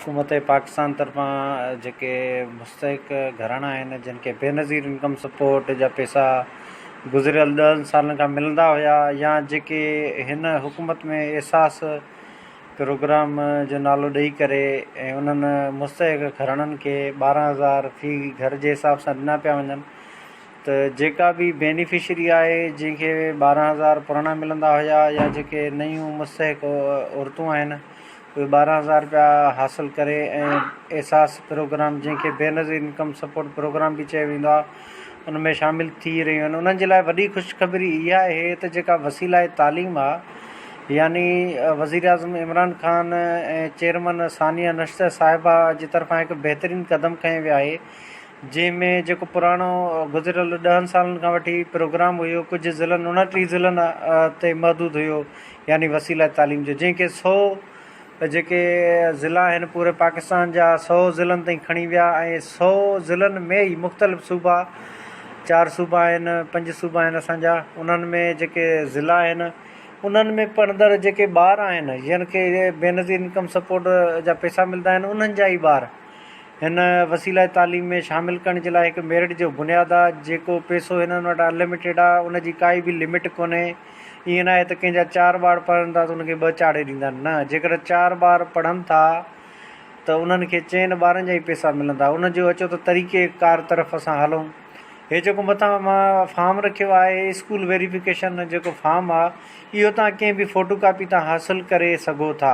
حڪومت پاڪستان طرفان جيڪي مستحق گهراڻا آهن جن کي بي نظير انڪم سپورٽ جا پيسا گذريل ڏهن سالن کان ملندا هيا يا جيڪي هن حڪومت ۾ احساس پروگرام جو نالو ڏئي ڪري ۽ انهن مستحق گهراڻن کي ٻارهن هزار في گهر جي حساب سان ڏنا پيا وڃن ته جيڪا به بينيفشري آهي جنهن کي ٻارهن هزار پراڻا ملندا هيا يا جيڪي نيون مستحق عورتون آهن اهي ٻارهن هزار رپيا حاصل ڪري ۽ احساس پروگرام جنهن کي بينظير انڪم سپورٽ پروگرام به چيو ويندو آهي ان ۾ شامل ٿي رهيون آهن انهن جي لاء وڏي خوشخبري اها آهي ته جيڪا وسيله تعليم آهي يعني وزير اعظم عمران خان ۽ چيئرمن ثانيه نشتر صاحبه جي طرفان هڪ بهترين قدم کنيو ويو آهي جنهن ۾ جيڪو پراڻو گذريل ڏهن سالن کان وٺي پروگرام هيو ڪجهه ضلعن انٽيهه ضلعن تي محدود هيو يعني وسيله تعليم جو جنهن کي سؤ جيڪي ضلع آهن پوري پاڪستان جا سؤ ضلعن تائين کڻي ويا ۽ سؤ ضلعن ۾ ئي مختلف صوبا چار صوبا آهن پنج صوبا آهن اسانجا انهن ۾ جيڪي ضلع آهن انهن ۾ پڙهندڙ جيڪي ٻار آهن جن کي بينظير انڪم سپورٽ جا پيسا ملدا آهن انهن جا ئي ٻار هن وسيله تعليم ۾ شامل ڪرڻ جي لاء هڪ ميرٽ جو بنياد آ جيڪو پيسو هنن وٽ ان لميٽيڊ آ ان جي ڪائي به لميٽ ڪونهي ائين ناهي ته ڪنهن جا چار ٻار پڙهن ٿا ته ان کي ٻه چاڙهي ڏيندا آهن نه جيڪڏهن چار ٻار پڙهن ٿا ته انهن کي چئن ٻارن جا ئي پيسا ملندا ان جو اچو ته طريقي ڪار طرف اسان هلون هي جيڪو مٿان مان فارم رکيو آهي اسڪول ويريفڪيشن جيڪو فارم آ اهو تان ڪنهن به فوٽو ڪاپي تان حاصل ڪري سگهو ٿا.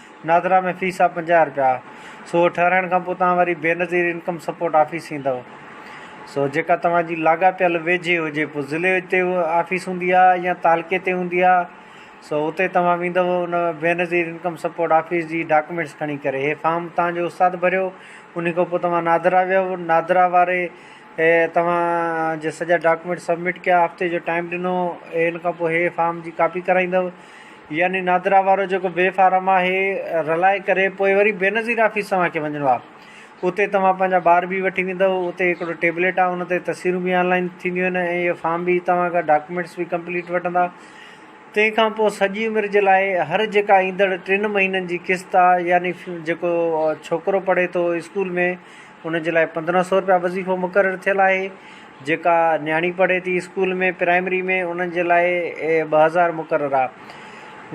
نادرا ۾ فيس آ پنجاهه رپيا سو اهو ٺهرائڻ کان پوء توهان واري بينظير انڪم سپورٽ آفيس ايندؤ سو جيڪا توهان جي لاڳاپيل ويجهي هجي پوء ضلعي تي آفيس هوندي آ يا تعلقي تي هوندي آ سو اتي توهان ويندؤ ان بينظير انڪم سپورٽ آفيس جي ڊاڪومينٽس کڻي ڪري هي فارم توهان جو استاد ڀريو انهي کان پوء توهان نادرا ويئو نادرا واري توهان جي سڄا ڊاڪومينٽس سبمٽ ڪيا هفتي جو ٽائيم ڏنو ان کان پوء هي فارم جي ڪاپي ڪرائيندؤ يعني نادرا وارو جيڪو بي فارم آهي رلائي ڪري پوء وري بينظير آفيس توهان کي وڃڻو آهي اتي توهان پنهنجا ٻار به وٺي ويندو اتي هڪڙو ٽيبليٽ آهي ان تي تصويرون به آنلائن ٿينديون آهن ۽ اهي فارم به توهان کان ڊاڪيومينٽس به ڪمپليٽ وٺندا تنهن کان پوء سڄي عمر جي لاء هر جيڪا ايندڙ ٽن مهينن جي قسط آهي يعني جيڪو ڇوڪرو پڙهي ٿو اسڪول ۾ ان جي لاء پندرهن سئو رپيا وظيفو مقرر ٿيل آهي جيڪا نياڻي پڙهي ٿي اسڪول ۾ پرائمري ۾ انهن جي لاء ٻه هزار مقرر آ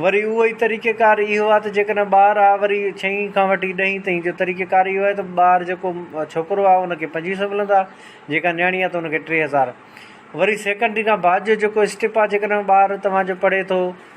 وري اهو ئي طريقه ڪار اهو آ ته جيڪڏهن ٻار آ وري ڇهين کان وٺي ڏهين تائين جو طريقه ڪار اهو آهي ته ٻار جيڪو ڇوڪرو آ ان کي پنجويهه سئو ملندا جيڪا نياڻي آ ته ان کي ٽي هزار وري سيڪنڊري کان بعد جو جيڪو اسٽيپ آ جيڪڏهن ٻار توهان جو پڙهي ٿو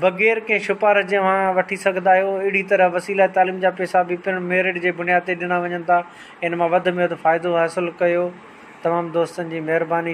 بغير ڪنهن شپارش جي اوهان وٺي سگهندا آهيو. اهڙي طرح وسيله تعليم جا پيسا به پڻ ميرٽ جي بنياد تي ڏنا وڃن ٿا. ان مان وڌ ۾ وڌ فائدو حاصل ڪيو. تمام دوستن جي مهرباني.